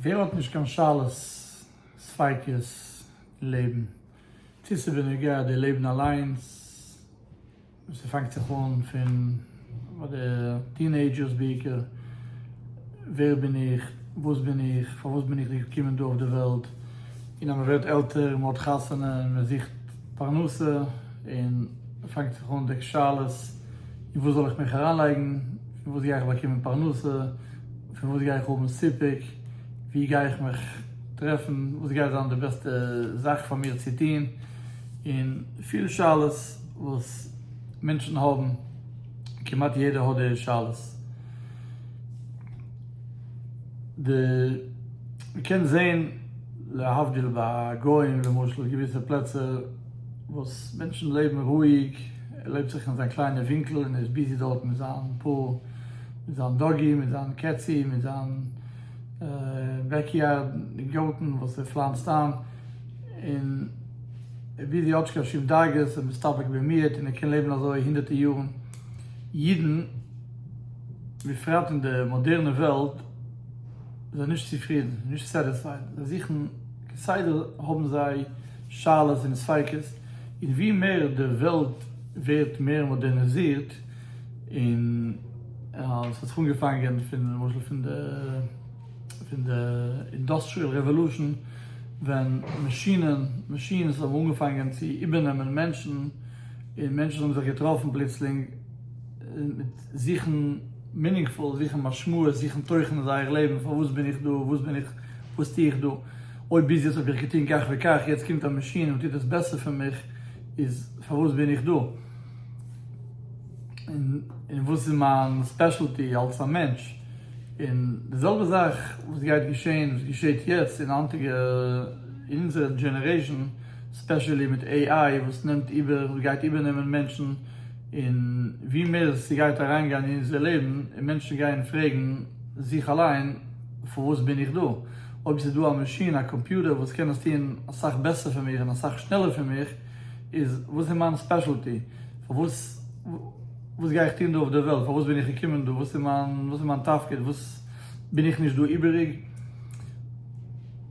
ווער האט נישט קיין שאלות, ספיקות אין לעבן, צו ס'איז בנוגע די לעבן אליינס, וואס ס'פאנגט זיך אן פון ביי די טינעידזשערס בעיקר, ווער בין איך, וואס בין איך, פארוואס בין איך געקומען דא אויף די וועלט, און אז מ'ווערט עלטער, מ'האט חתונה, מ'זוכט. פרנסה און מ'פאנגט זיך אן דעק שאלות, אין וואס זאל איך מיך אריינלייגן, פון וואס גיי איך באקומען פרנסה, פון וואס גיי איך האבן סיפוק, ווי גיי איך מיך טרעפן, וואס גייט זיין די בעסטע זאך פאר מיר צו טון, און פיל שאלות וואס מענטשן האבן, כמעט יעדער האט די שאלות. די מען קען זעהן להבדיל ביי גוים למשל געוויסע פלעצער וואס מענטשן לעבן רואיג ער לעבט זיך אין זיין קליינע ווינקל און ער איז ביזי דארט מיט זיין פאה מיט זיין דאגי מיט זיין קעצי מיט זיין בעקיארד און גארטן וואס ער פלאנצט איין און ער איז ביזי האט נישט קיין שום דאגות און מסתפק במיעוט און ער קען לעבן אזוי הונדערטער יארן אידן בפרט אין די מאדערנע וועלט איז זיי נישט צופרידן, נישט סעטיספייד, זיי זוכן כסדר האבן זיי שאלות און ספיקות, און ווי מער די וועלט ווערט מער מאדערניזירט, און ס'האט זיך אנגעפאנגען פון למשל פון די פון די אינדאסטריעל רעוועלושען ווען מאשינען מאשין'ס האבן אנגעפאנגען צו איבערנעמען מענטשן, און מענטשן האבן זיך געטראפן פלוצלינג, מיט זוכן מינינגפול, זוכן משמעות, זוכן תוכן אין זייער לעבן, פארוואס בין איך דא, וואס בין איך, וואס טו איך דא, אויב ביז יעצט האב איך געטון כך וכך, יעצט קומט א מאשין און טוט עס בעסער פון מיך, איז פארוואס בין איך דא? און וואס איז מיין ספעשעלטי אלס א מענטש? און די זעלבע זאך וואס גייט געשען, וואס געשעט יעצט אין היינטיגע, אין אונזערע דזשענערעישאן, ספעשעלי מיט AI וואס נעמט איבער, וואס גייט איבערנעמען מענטשן, און ווי מער ס'גייט אריינגיין אין אונזער לעבן און מענטשן גייען פרעגן זיך אליין פארוואס בין איך דא? אויב ס'איז דא א מאשין, א קאמפיוטער וואס קען עס טון אסאך בעסער פון מיך און אסאך שנעלער פון מיך, איז וואס איז מיין ספעשעלטי? פארוואס וואס גיי איך טון דא אויף דער וועלט? פארוואס בין איך געקומען דא? וואס איז מיין תפקיד? וואס בין איך נישט דא איבעריג?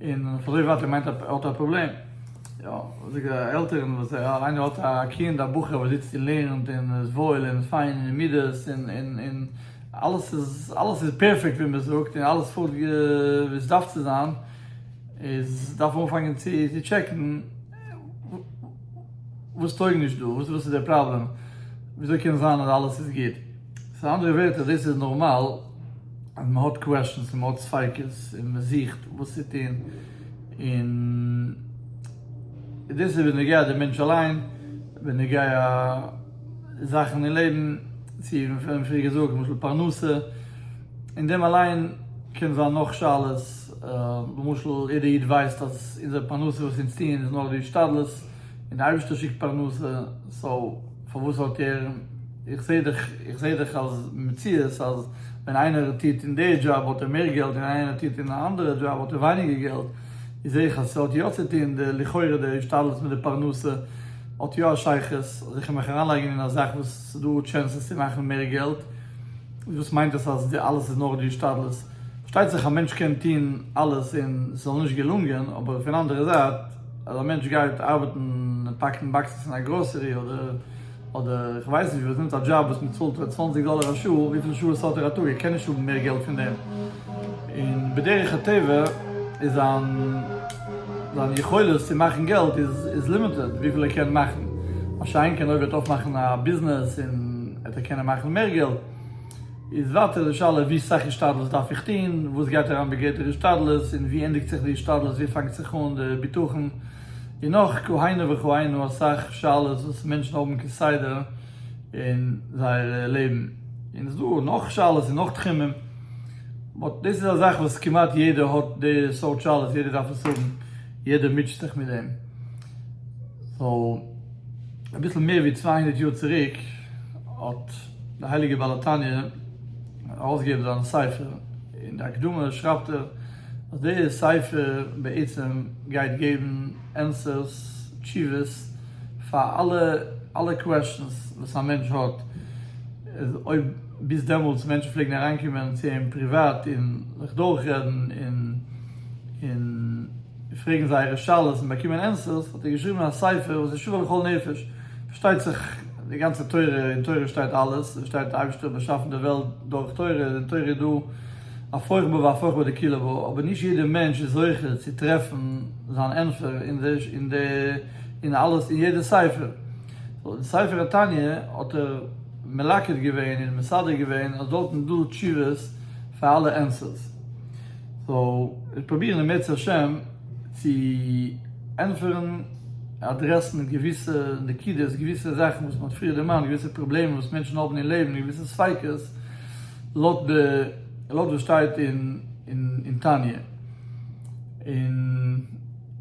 און פון אזוי ווייט ער מיינט ער האט א פראבלעם, יא זאגט די עלטערן וואס איינער האט א קינד א בחור וואס זיצט און לערנט און איז וואויל און פיין און אין מידות און און און אלעס איז אלעס איז פערפעקט ווי מען זאגט און אלעס פארט ווי עס דארף צו זיין, איז דארף מען אנפאנגען צו טשעקן וואס טויג נישט דא, וואס איז דער פראבלעם, ווי אזוי קען עס זיין אז אלעס איז גוט. סאו אנדערע ווערטער דאס איז נארמאל אז מען האט קוועשענס און מען האט ספיקות און מען זוכט וואס צו טון און דאס איז בנוגע די מענטש אליין בנוגע זאכן אין לעבן צו ווי מען פריער געזאגט למשל פרנסה און דעם אליין קען זיין נאך שאלות למשל יעדער איד ווייסט אז אונזער פרנסה וואס אונז טוען איז נאר די השתדלות. און די אייבערשטער שיקט פרנסה, סאו פארוואס האט ער, איך זעה דאך, איך זעה דאך אז מציאות אז ווען איינער טוט אין די דזשאב האט ער מער געלט און איינער טוט אין א אנדערע דזשאב האט ער ווייניגער געלט, איז זעה איך אז ס'האט יא צו טון די לכאורה די השתדלות מיט די פרנסה האט יא א שייכות, אז איך קען מיך אריינלייגן אין א זאך וואס ס'דא טשענסעס צו מאכן מער געלט, איז וואס מיינט עס אז די אלעס איז נאר די השתדלות? פארשטייט זיך א מענטש קען טון אלעס און ס'זאל נישט געלונגען, אבער פון אנדערע זייט. אז א מענטש גייט ארבעטן און פאקן באקסעס אין א גראסערי אדער אדער איך ווייס נישט וואס, נעמט א דזשאב וואס מען צאלט א צוואנציג דאלער א שעה, וויפיל שעות האט ער א טאג? ער קען נישט האבן מער געלט פון דעם, און בדרך הטבע איז זיין זיין יכולת צו מאכן געלט איז איז לימיטעד וויפיל ער קען מאכן, מה שאין כן אויב ער וועט אויפמאכן א ביזנעס און עט ער קענען מאכן מער געלט. איז ווייטער די שאלה ווי סאך השתדלות דארף איך טון, וואס גייט אריין בגדר השתדלות, און ווי ענדיגט זיך די השתדלות, ווי פאנגט זיך אן די בטחון, און נאך כהנה וכהנה אסאך שאלות וואס מענטשן האבן כסדר אין זייער לעבן, און עס איז דא נאך שאלות אין נאך תחומים, באט דאס איז א זאך וואס כמעט יעדער האט די סארט שאלות, יעדער דארף עס האבן, יעדער מוטשעט זיך מיט דעם, סאו אביסל מער ווי צוויי הונדערט יאר צוריק האט. דער הייליגער בעל התניא האט ארויסגעגעבן זיין ספר, אין די הקדמה שרייבט ער אז די ספר בעצם גייט געבן ענסערס, תשובות, פאר אלע אלע קוועסטשענס וואס א מענטש האט, אויב ביז דעמאלטס מענטשן פלעגן אריינקומען צו אים פריוואט און זיך דורכרעדן און און. און פרעגן זייערע שאלות און באקומען ענסערס, האט ער געשריבן א ספר וואס איז שווה לכל נפש, פארשטייט זיך די גאנצע תורה, אין תורה שטייט אלעס, עס שטייט אייבערשטער האט באשאפן די וועלט דורך תורה, אין תורה איז דא הפוך בה והפוך בה דקילא בה, אבער נישט יעדער מענטש איז זוכה צו טרעפן זיין ענטפער אין אלעס אין יעדע ספר, סאו אין ספר התניא האט ער מלקט געווען און מסדר געווען אז דארטן איז דא תשובות פאר אלע ענסערס. סאו איך פרוביר אם ירצה השם צו ענטפערן אדרעסן געוויסע נקודות געוויסע זאכן וואס מ'האט פריער דערמאנט געוויסע פראבלעמען וואס מענטשן האבן אין לעבן געוויסע ספיקות לויט די לויט וואס שטייט אין תניא און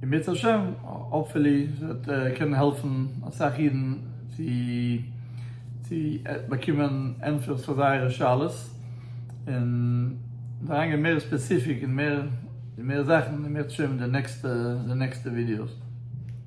אם ירצה השם האפפולי וועט קענען העלפן אסאך אידן צו צו באקומען ענטפערס פאר זייערע שאלות. און אריין גיין מער ספעסיפיק און מער זאכן און מער צושרייבן די נעקסטע ווידיאוס.